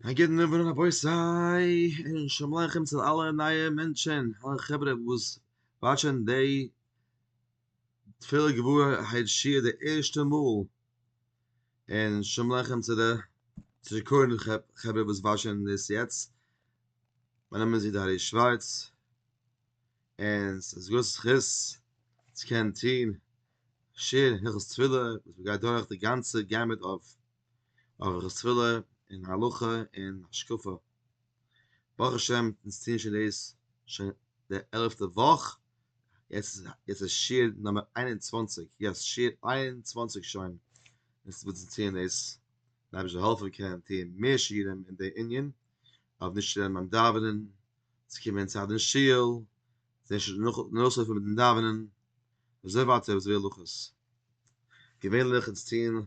א גוטן אויבערן רבותי און שלום עליכם צו אלע נייע מענטשען, אלע חברה וואס וואטשען דעי תפלה גבוהה היי שיעור די ערשטע מאל, און שלום עליכם צו די זיכרון חברה וואס וואטשען דאס יעצט, מיין נאמען איז איד הערי שווארץ, און ס'איז גרויס זכות צו קענען טוהן שיעור הלכות תפילה וואס מ'גייט דורך די גאנצע געמוט אויף אויף רספלע און הלכה און השקפה, ברוך השם אונז טוען שוין דאס שוין די עלעפטע וואך, יעצט איז עס שיעור נומער איין און צוואַנציק, יעס שיעור איין און צוואַנציק שוין וואס אונז טוען דאס, די אייבערשטער זאל העלפן קענען טוען מער שיעורים אין די ענין, אויף נישט צו רעדן ביים דאווענען, צו קומען אין צייט אין שול, נאכלויפן מיטן דאווענען, און אזוי ווייטער אזוי הלכות, געווענליך אונז טוען.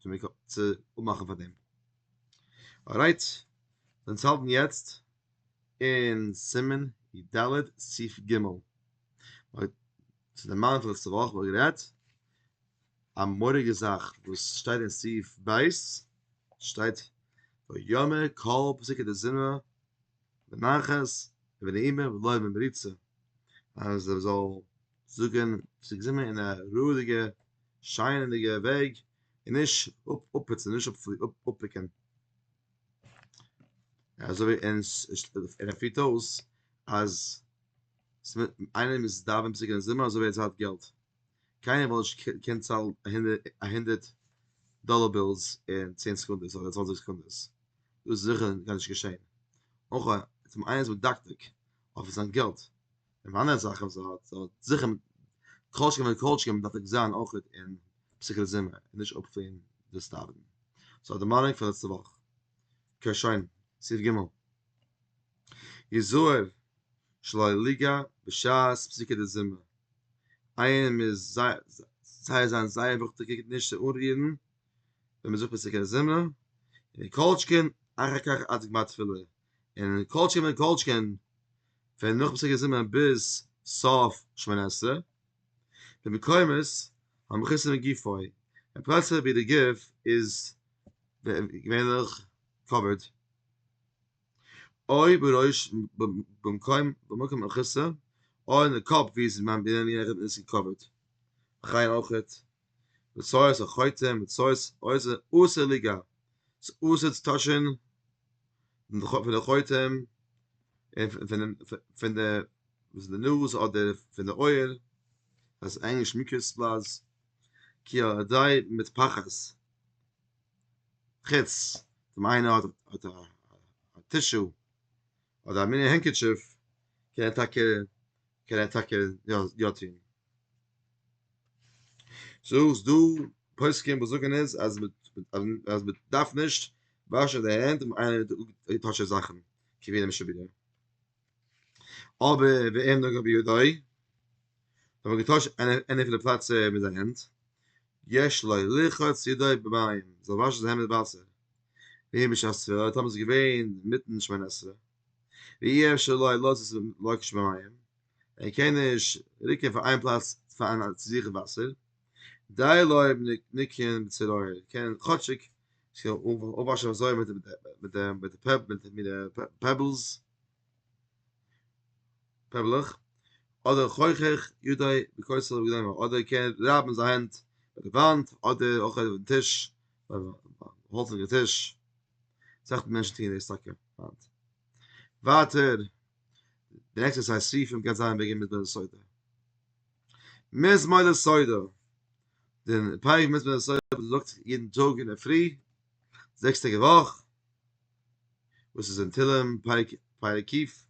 צו מיר צו אפמאכן פאר דעם ארייט זענען צו האלטן יעצט אין סימן י ד סעיף ג אויב צו די מאנטל לעצטע וואך וואלט גערעדט א מורא'דיגע זאך וואס שטייט אין סעיף ב' שטייט ויאמר כל פסוקי דזמרה בנחת ובנעימה ולא במריצה אז ער זאל זאגן ס'איז געזומען אין א רואיגע שיינעדיגע וועג און נישט אפפוצן נישט אפפיקען אזוי און ער פירט אויס אז איינער מוז דאווענען פסוק אין זומער אזוי ווי ער צאלט געלט קיינער וויל נישט קומען צאלן א הונדערט דאלער בילס אין צען סעקונדעס אדער צוואנציג סעקונדעס דאס איז זיכער גארנישט געשען אויך איינער איז מדקדק אויף זיין געלט און פאר אנדערע זאכן זיי האט זיי האט זיכער מיט כל שכן ווען כל שכן דארף ער זיין אויך אין פסוקי זמר און נישט אפטוהן דאס דאווענען סאו די מיינונג פון לעצטע וואך אקעי שוין סעיף ג' יזהר שלא ליגא בשעת פסוקי דזמר איינער מוז זייער זיין זייער וואכטעגער נישט צו אנרירן ווען מען זאגט פסוקי זמר און כל שכן אחר כך עד גמר תפילה און כל שכן וכל שכן פון נאך פסוקי זמר ביז סוף שמונה עשרה, במקומות המכוסים בגופו, און פלעצער ווי די גוף איז געווענליך קאווערד, אוי בראש במקום במקום המכוסה, אוי אין די קאפ ווי עס איז מען בעניני עכ ז קאווערד, וכן אויך. מצות החוטא מצות עושה אסור ליגעת ס'איז אסור צו טאשן פון די חוטא און פון די וואס איז די נאז אדער פון די אויער אז ענגליש מיקרס פלאס כי על ידי מטפחת חוץ אויב איינער האט האט א א טישו אדער א מיני הענקעטשיף קען ער טאקע קען ער טאקע יא יא טוהן. סאו איז דא פוסקים וואס זאגן איז אז מיט אז מיט דארף נישט וואשן די הענט אויב איינער האט געטאטש די זאכן כבירים שבירים אבער ואין נוגע בידי אויב האט געטאטש עני פון די פלעצע מיט זיין הענט יש לו לרחוץ ידיו במים זאל וואשן זיין הענט מיט וואסער ווי בשעת ספירה טאמער ס'איז געווען מיטן שמונה עשרה ואי אפשר לו לרחוץ במים ער קען נישט רוקען פון איין פלאץ פארן צו זיכען וואסער, די לויב ניקען בצרור ער קען כאטשיג זיך אפוואשען אזוי מיט די פעבלס, פעבלעך, אדער חוכך ידי בכוסל ובגלימה אדער ער קען רייבן זיין הענט ביי די וואנט אדער אויך אויפן טיש האלצענע טיש, אסאך מענטשן טוען דאס טאקע היינט, ווייטער. די עקסערסייז שריפים גייט זיין וועגן מדבר לסודר. מדבר לסודר. דער פרק מדבר לסודר וואס מען זאגט יעדן טאג אין דער פרי, זעקס טעג א וואך, וואס איז אין תהלים פרק פרק קיף,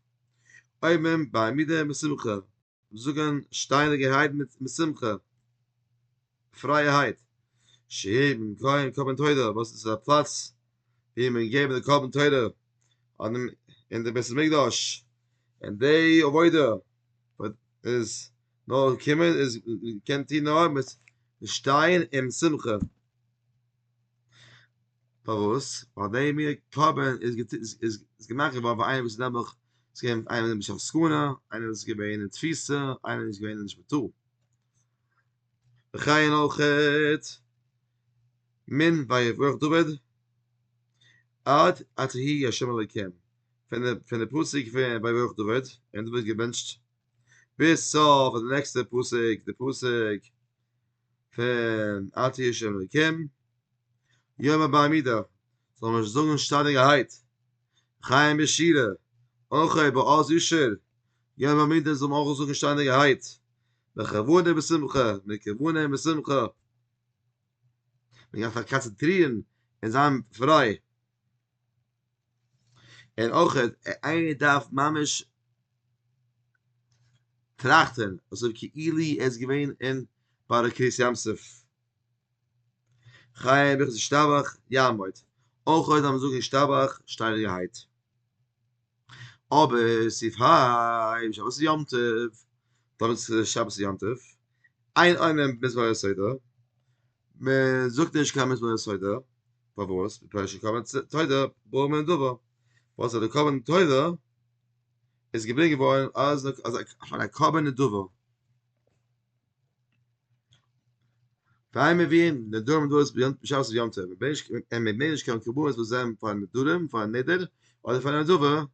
אויב מען ביי עמידה משמחה זאגן שטייניגערהייט מיט שמחה, פרייערהייט, שיעבן קרבן קרבן תודה וואס איז א פלאץ ווי מען געבן די קרבן תודה אין די בית המקדש, און די עבודה וואס איז נאר קומען איז קען טון נאר מיט שטיין און שמחה. פארוואס? ווייל די מין קרבן איז איז געמאכט געווארן פאר איינער וואס איז נעבעך ס'איז געווען איינער וואס איז בשעת סכנה, איינער וואס איז געווען אין תפיסה, איינער וואס איז געווען נישט בטוב. וכן אויך מין ויברך דוד עד אשר יהי השם אלוקים, פון די פון די פסוק פון ויברך דוד און דוד האט געבענטשט ביז סוף די נעקסטע פסוק די פסוק פון אתי איש אלוקים יום הבא מידע זאל מען זאגן שטאנעגערהייט חיים בשירה אויך ביי אז אישער יום הבא מידע זאל מען אויך זאגן שטאנעגערהייט בכבוד און בשמחה מיט כוונה און בשמחה מען דארף זיך קאנצענטרירן און זיין פריי. און אויך איינער דארף ממש טראכטען אזוי כאילו ער איז געווען אין ביי די קרית ים סוף חי אביך זשטאבאך יעמוד אויך אויב זיי זאגען ישתבח שטיידיגערהייט אבער סעיף היי שבת יום טוב דאן איז שבת יום טוב איין ענין בדבר יסודו. מען זאגט נישט קיין מזמור תודה, פארוואס? מפני שקרבן תודה ברור מן הדבר, וואס אז די קרבן תודה איז געברענגט געווארן אלס פאר א קרבן נדבה, פאר מיר ווי נדרים און נדבות ביום שבת און יום טוב, און מ'בענקט נישט קיין קרבנות וואס זענען פאר נדרים, פאר נדר, אדער פאר נדבה.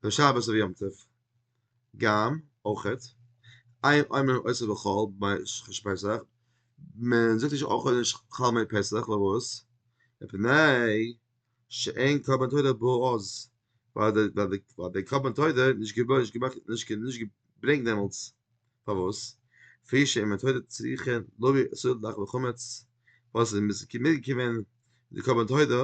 ווען שבת אויף יום טוב גאם אויכעט, איין עומר און עושה בכל ביי ש ח פסח, מען זאגט נישט אויכעט נישט כל מי פסח, פארוואס? מפני שאין קרבן תודה בו אז, ווייל די קרבן תודה איז נישט געמאכט נישט געברענגט דעמאלטס, פארוואס? כפי שאין מן תודה צריכין להביא סודר דאכלו חמץ, וואס איז מיז געקומען די קרבן תודה,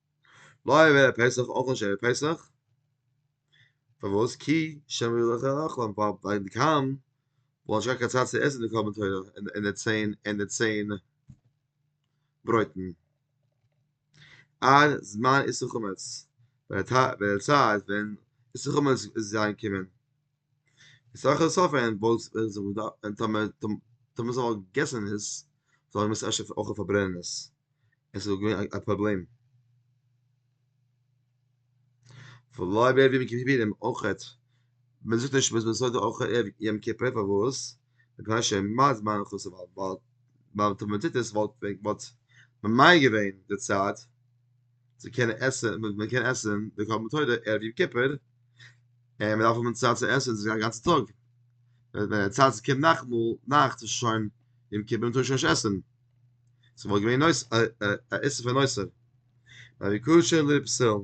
לא יהיה בערב פסח אויך נישט ערב פסח, פארוואס? כי שמא יהיה לך רחם, ווייל די קאם וואלט נישט געהאט קיין צייט צו עסן די קרבן תורה און די צען און די צען ברויטן, עד זמן איסור חמץ, ווען איסור חמץ איז אריינגעקומען. סאך סאך ווען וואלסט ווען טאמער טאמער זיי וואלטן געגעסן עס זאל ער מוזן אפשר אויך פארברענען עס עס איז געווען א פראבלעם ולא בערב יום כיפורים אויכעט מען זאגט נישט מ'איז מסדר אויך ערב יום כיפור פארוואס? מפני שמה זמן חוסר ווייל ווייל טאמער מ'טוט עס וואלט וואלט ממהר געווען די צייט צו קענען עסען מיט מען קען עסען די קארבן טוידער ערב יום כיפור און מען דארף האבן צייט צו עסען די גאנצע טאג ווען די צייט קומט נאכטמאל נאכט איז שוין יום כיפור טאר שוין נישט עסען סאו וואלט געווען נויס א איסור פון נויסער ווייל ווי קושער לב פסול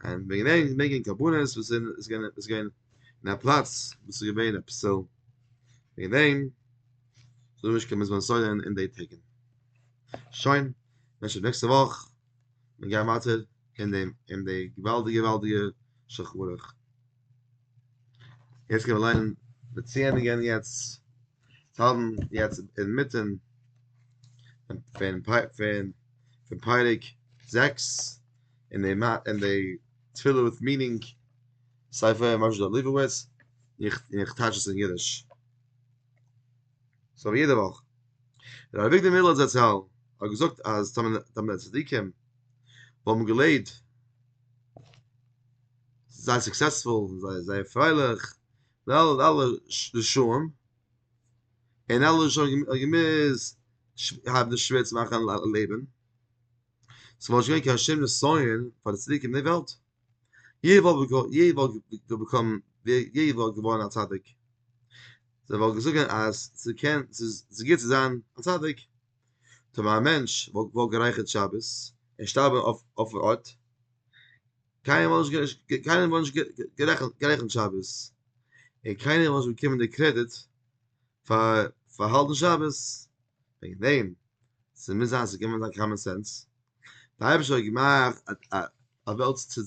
און וועגן דעם מעגן קרבנות וואס זענען עס געווען עס געווען אין א פלאץ וואס איז געווען א פסול וועגן דעם זאל נישט קיין מזבח סוידען אין די טעג שוין נעקסטע וואך מיר גייען ווייטער אין דעם אין די געוואלדיגע געוואלדיגע שולחן ערוך. יעצט גייען מיר ליינען די ציענדיגען יעצט האבן יעצט אינמיטן פון פון פון פון פרק זעקס אין די אין די תפילה וויט מינינג ספר משה דער ליבוביץ איך איך טייטש עס אין אידיש. ס'איז אבער יעדע וואך. ר' אביגדור מיללער זצל האט געזאגט אז טאמער טאמער די צדיקים האבן געלעבט זייער סוקסעספול זייער זייער פרייליך די אלע אלע רשעים און אלע רשעים האבן געמוזט האבן די שווער צו מאכן לעבן ס'וואלט נישט געווען קיין שום נסיון פאר די צדיקים אין די וועלט. יעדער וואלט געבאקומען יעדער וואלט געווארן א צדיק זיי וואלט געזאגען אז ס'קען ס'איז גוט צו זיין א צדיק טאמער א מענטש וואלט גערייכערט שבת און שטארבען אויפן ארט קיינער וואלט נישט קיינער וואלט נישט גערעכנט שבת און קיינער וואלט נישט באקומען די קרעדיט פאר פאר האלטן שבת וועגן דעם ס'מוז זיין ס'קען זיין קאמאן סענס. די אייבערשטער האט געמאכט א א וועלט צו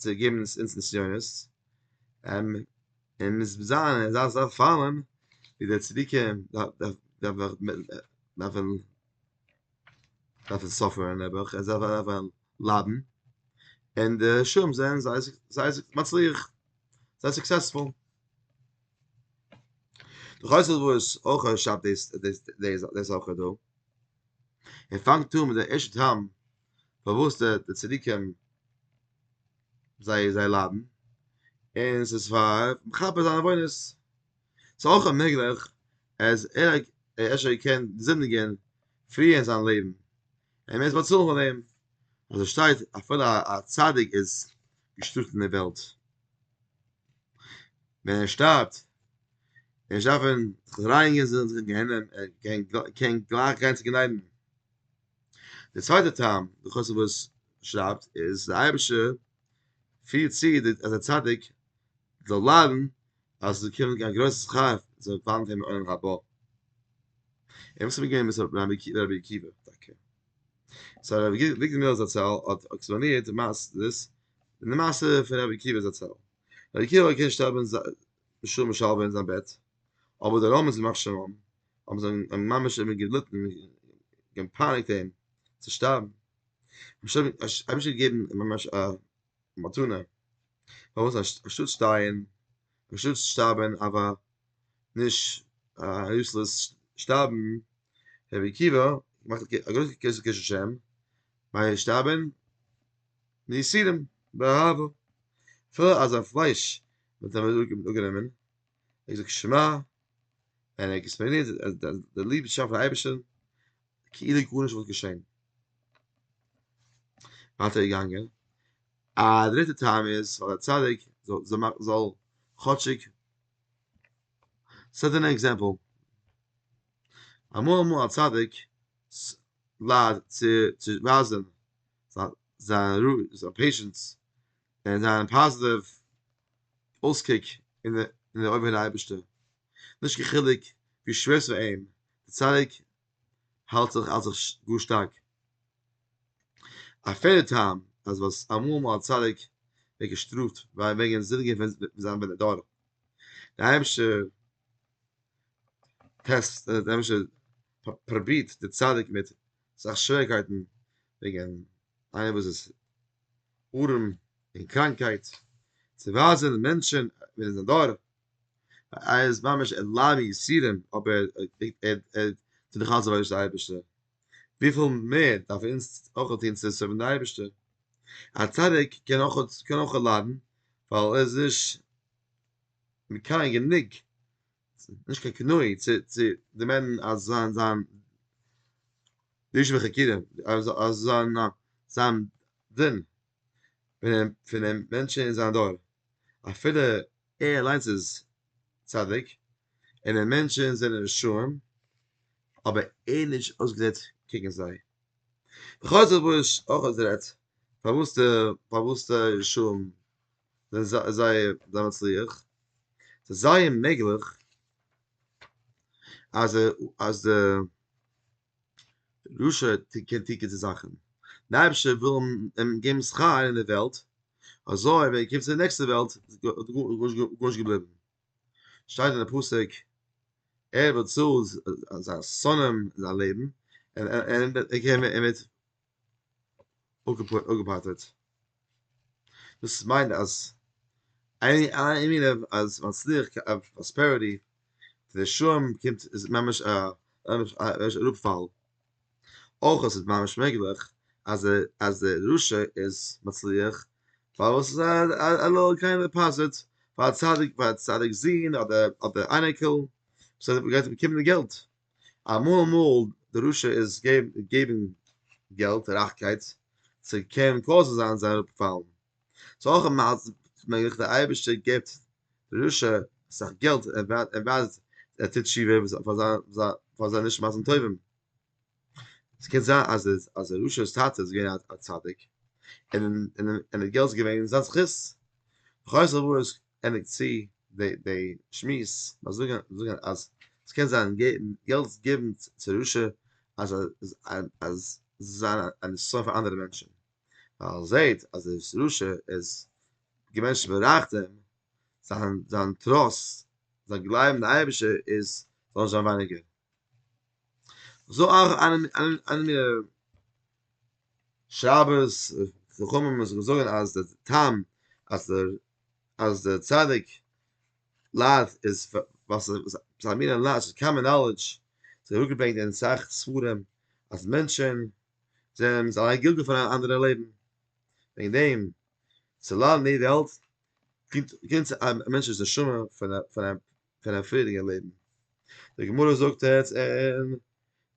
צו געבן אונז נסיונות, און מ'איז ביז אהין אזא אזא פאלן, ווי די צדיקי דארפן דארפן סאפערן נעבעך, און זיי דארפן ליידן, און די רשעים זענען זיי זיי מצליח, זיי סוקסעספול. דורך אויס וואס אויך א רשב די די זאכען דא. און פאנגט אן מיט די אשת הים פארוואס די די צדיקים זיי זיי ליידן און עס איז פאר מכפר זיין עוונות ס'איז אויך מעגליך אז ער האט אפשר געקענט זינדיגען פריער אין זיין לעבן און מ'מוז באצאלן פאר דעם אזוי שטייט אפילו א צדיק איז געשטראפט אין די וועלט. ווען ער שטארבט, ווען זיי דארפן זיך רייניגן זאלן זיי גיין אין גיהנום, קען גלייך גיין צו גענאדן. דער צווייטער טעם די חסיד וואס שרייבט איז די אייבישע פירט צו אז די צדיק זאל ליידן אז עס זאל קומען א גרויסע שכר זאל פאלן אויף אים אין עולם הבא. און וואס איז מיט געווען מיט רבי עקיבא טאקע? סא רבי וויגדעמירער זצל האט עקספלאנירט מס ד און די מעשה פון רבי עקיבא זצל. רבי עקיבא האט געקענט שטארבען בשלום ושלווה אין זיין בעט, אבער די רמות ימח שמם האבן זיין ממש אים געליטען געפייניגט אים צו שטארבען. האבן שוין געגעבען ממש א מתנה, פארוואס אנשטאט שטייען, אנשטאט שטארבען אוו א נישט א יוסלעס שטארבען, רבי עקיבא מאכט א גרויסע קשר קשר שם, ביי שטארבען מייסירים באהבה, אפילו אזא פלייש וואלט ער אפגענומען, ער האט געזאגט שמע, און ער האט עקספלעינירט אז די ליבשאפט פאר אייבערשטען כאילו גארנישט וואלט געשען. ווייטער געגאנגען, א דריטע טעם איז ווייל א צדיק זאל כאטשיג, ס'האט אן עקזעמפל, אמאל אמאל א צדיק ליידט צו ווייזען זיין פעישענס און זיין פאזיטיוו אויסקוק אין די אויגן פון די אייבערשטער, נישט קיין חילוק ווי שווער ס'איז פאר אים, די צדיק האלט זיך אלס זיך גאר שטארק. א פערדע טעם אז וואס אמאל מאל א צדיק ווערט געשטראפט וועגן זינדיגן פון זיין בן אדם, די אייבערשטער טעסט די אייבערשטער פרובירט די צדיק מיט אסאך שוועריקייטן וועגן איינער וואס איז ארעם און קראנקייט צו ווייזן מענטשן ווער איז זיין דור ער איז ממש אין לארי יסורים אבער ער טוט דאך אלץ עבודת אייבערשטער, וויפיל מער דארף אונז אויך טון צו סערווין די אייבערשטער, א צדיק קען אויך ליידן ווייל ער איז נישט מקיים גענוג, נישט קיין קנאי צו דערמאנען אז זיין זיין די יושבי חקירים אז זיין דין. פונעם פונעם מענטשן אין זיין דור, אפילו ער אליינס איז צדיק, און די מענטשן זענען רשעים, אבער ער נישט אויסגעזעצט קעגן זיי. בכל זאת וואס איז אויך אז רעדט פארוואס די פארוואס די רשעים זענען זייער זיי מצליח, ס'איז זייער מעגליך אז אז די רשע קען טון גוטע זאכן, דער אייבערשטער וויל אים געבן שכר אין דער וועלט, אזוי ווען ער קומט צו די נעקסטע וועלט איז גארנישט געבליבן, שטייט אין די פסוק, ער וואס צאלט זיין שונאים זיין לעבן, ער וועט אפגעפאטערט. דאס מיינט אז אז מצליח פראספעריטי די שם קומט איז ממש א אראפפאל, אויך אז ס'איז ממש מעגליך אז אז דער רשע איז מצליח ווייל עס איז א לוי' קיינער פאזעט פאר א צדיק פאר א צדיק'ס זון אדער אדער אייניקעל וואס גייט אים באקומען די געלט. אמאל אמאל די רשע איז געבן געלט רייכקייט צו קען קאוזן זיין זיי אראפפאלן, סאו אויך איז מעגליך די אייבערשטער געבט די רשע אסאך געלט ער ווייזט ער טוט תשובה פאר זיין פאר זיין נישט מעשים טובים, ס'קען זיין אז אז די רשע'ס טאטע איז געווען א צדיק און און די געלט איז געווען זיין זכות, חוזר ווארט ענדיגט צו די שמועס ביי זאגן אז ס'קען זיין געלט געבן צו רשע אז אז זיין א נסיון פאר אנדערע מענטשן ווייל ער זעהט אז ער איז רשע איז די מענטשן בארייכט אים זיין זיין טראסט זיין גלייבן די אייבישע איז זאל זיין ווייניגער זאל אויך איינער מיר שרייבערס חכמים זאגן אז די טעם אז דער אז דער צדיק ליידט איז וואס זיין מין און ליידט איז קאמען נאלעדזש, ס'איז אראפגעברענגט אין אסאך ספרים אז מענטשען זענען זיי א גילגול פון אנדערע לעבן, וועגן דעם צו ליידן אין די וועלט קומט קומט צו א מענטש'ס נשמה פון א פון א פון א פריערדיגע לעבן. די גמרא זאגט עס אין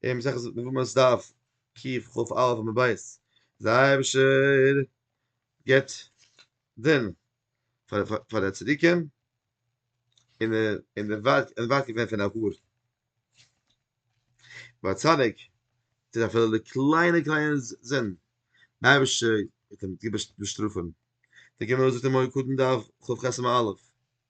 אין מסכת יבמות דף קיף כב א עמוד ב' אז דער אייבערשטער גיבט דען פאר די צדיקים און און די ווארט און ווארט געווען פון א האר ביי א צדיק איז אפילו די קליינע קליינע זינד די אייבערשטער וועט אים גוט באשטראפען די גמרא זאגט אין מוהר קדן דף כב חסמ א,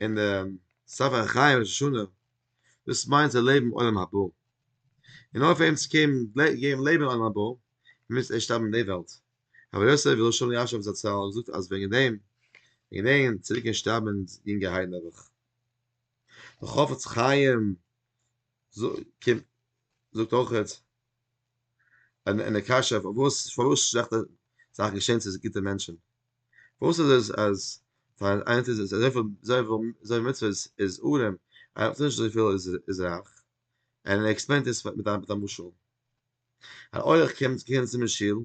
אין די ספר החיים ראש השנה דאס מיינט צו לעבן עולם הבא און אויף אים צו קענען לעבן אין עולם הבא מוז ערשט שטארבן אין די וועלט רבי יוסף הלל שאליאשוב זצל האט געזאגט אז וועגן דעם וועגן דעם צוריק און שטארבן אין יונגע היי נעבעך די חפץ חיים זאגט אויך און די קשיא פארוואס פארוואס שלעכטע זאכן געשען צו גוטע מענטשן, פארוואס איז עס אז פאר איינער טוט עס אזויפיל אזויפיל מצוות איז ארעם, איינער טוט נישט אזויפיל איז רייך, און ער עקספלעינט עס מיט א משל, אן אורח קומט צו מיר אין שול,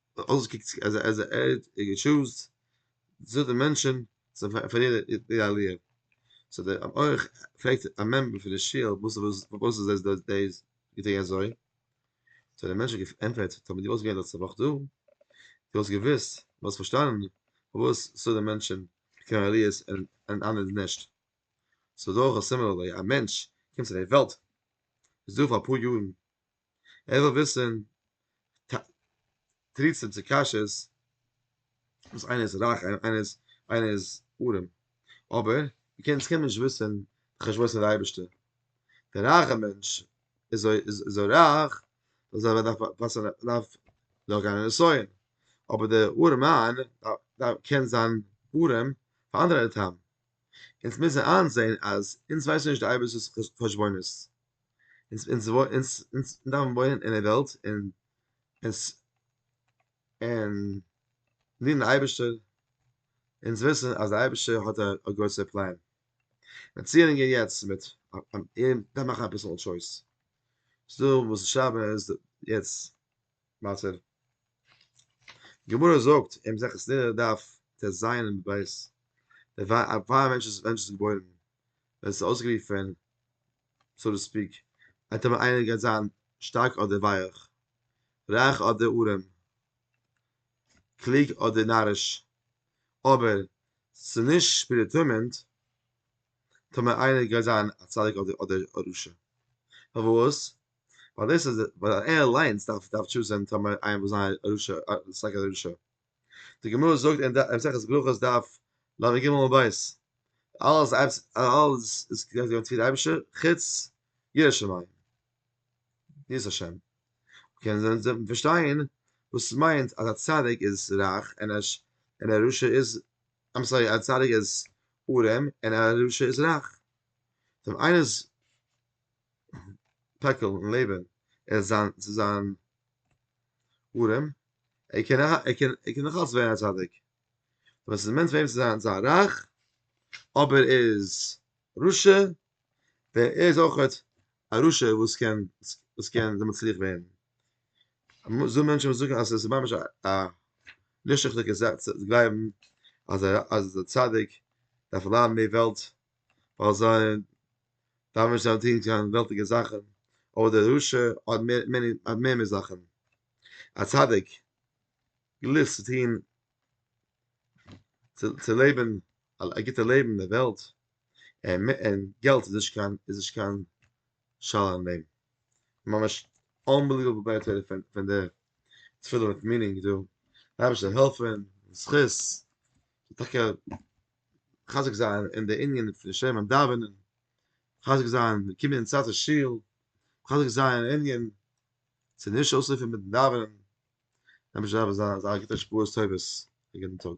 אלעס קוקט צו אז אז ער ער טשוזט צו די מענטשען צו פאר יעדע יעדע עליה סאו די אויב אויך פרעגט א מעמבער פון די שול וואס וואס פארוואס איז דאס דאס דאס געטוהן אזוי סאו די מענטשען געפענטפערט טאמער די וואלסט געווען לעצטע וואך דא די וואלסט געוויסט וואלסט פארשטאנען פארוואס סאו די מענטשען קען עליות און און אנדערע נישט סאו דאך א סימילער וועי א מענטש קומט צו די וועלט איז דא פאר אפאר יארן. ער וויל וויסן תריצים צו קשיות וואס איינער איז רייך איינער איז ארעם אבער מיר קענען קענען נישט וויסן די חשבונות פון די אייבערשטער דער רייכער מענטש איז אזוי רייך אז ער דארף וואסער דארף דארף גיין אין נסיון אבער דער ארעם מאן קען זיין ארעם פאר אנדערע טעמים אונז מוזן איינזען אז אונז ווייסן נישט די אייבערשטער'ס חשבונות. אונז אונז אונז אונז דארפן וואוינען אין דער וועלט און אונז און דינען די אייבערשטער אונז וויסן אז דער אייבערשטער האט א א גרויסער פלאן און ציענדיג און יעצט מיט און דארף מאכן אביסל טשויס ס'דא וואס שרייבן אז יעצט מצב. גמרא זאגט אין מסכת נדה דף טז עמוד ב', די וועי א פאר א מענטש איז געבוירן, ווען ס'איז אויסגערופן, סאו טו ספיק, אנטעמען איינער גייט זיין שטארק אדער ווייעך, רייך אדער ארעם, קלוג אדער נאריש, אבער ס'איז נישט פרעדעטערמינד טאמער איינער גייט זיין א צדיק אדער א רשע. פארוואס? ווייל דאס איז ווייל ער אליינס דארף דארף טשוזען טאמער איין וואס זיין רשע סאיז א רשע די גמרא זאגט אין מסכת ברכות דף לג עמוד ב' אלעס אלעס איז געווען צוליב די אייבישטער חוץ ירא שמים יראת השם קען זיין זיי פארשטיין וואס מיינט אז א צדיק איז רייך און א און א רשע איז איים סארי א צדיק איז ארעם און א רשע איז רייך דעם איינער איז פעקל און לעבען ער זיין צו זיין ארעם ער קען ער קען ער קען נאך אלץ ווערן א צדיק ווען ס'איז מענטש וועם צו זיין זיין רייך אבער ער איז רשע דער ער איז אויכעט א רשע וואס קען וואס קען זיי מצליח ווערן זאל מענטשן וואס זאגן אז ס'איז ממש א נישט ריכטיגע זאך צו גלייבן אז א אז א צדיק דארף ליידן אין די וועלט ווייל זיי דארפן נישט זיין טון קיין וועלטיגע זאכן, אבער דער רשע האט מער האט מער מיט זאכן, א צדיק גליסט צו טון צו צו לעבן א גוטע לעבן אין דער וועלט, און מ און געלט איז נישט קיין איז נישט קיין שאלה אין דעם, ממש אנבעליוועבל בעט ער פון פון די תפילה מיט מינינג דא, אייבערשטער העלף אונז זכות, טאקע מחזק זיין אין די ענינים פון שומרים דאווענען, מחזק זיין די קינדער אין צאנזער שול, מחזק זיין אין ענין צו נישט אויסרופן מיטן דאווענען, נעמען זיי אזא גוטע השפעות טובות אגענטן טאג.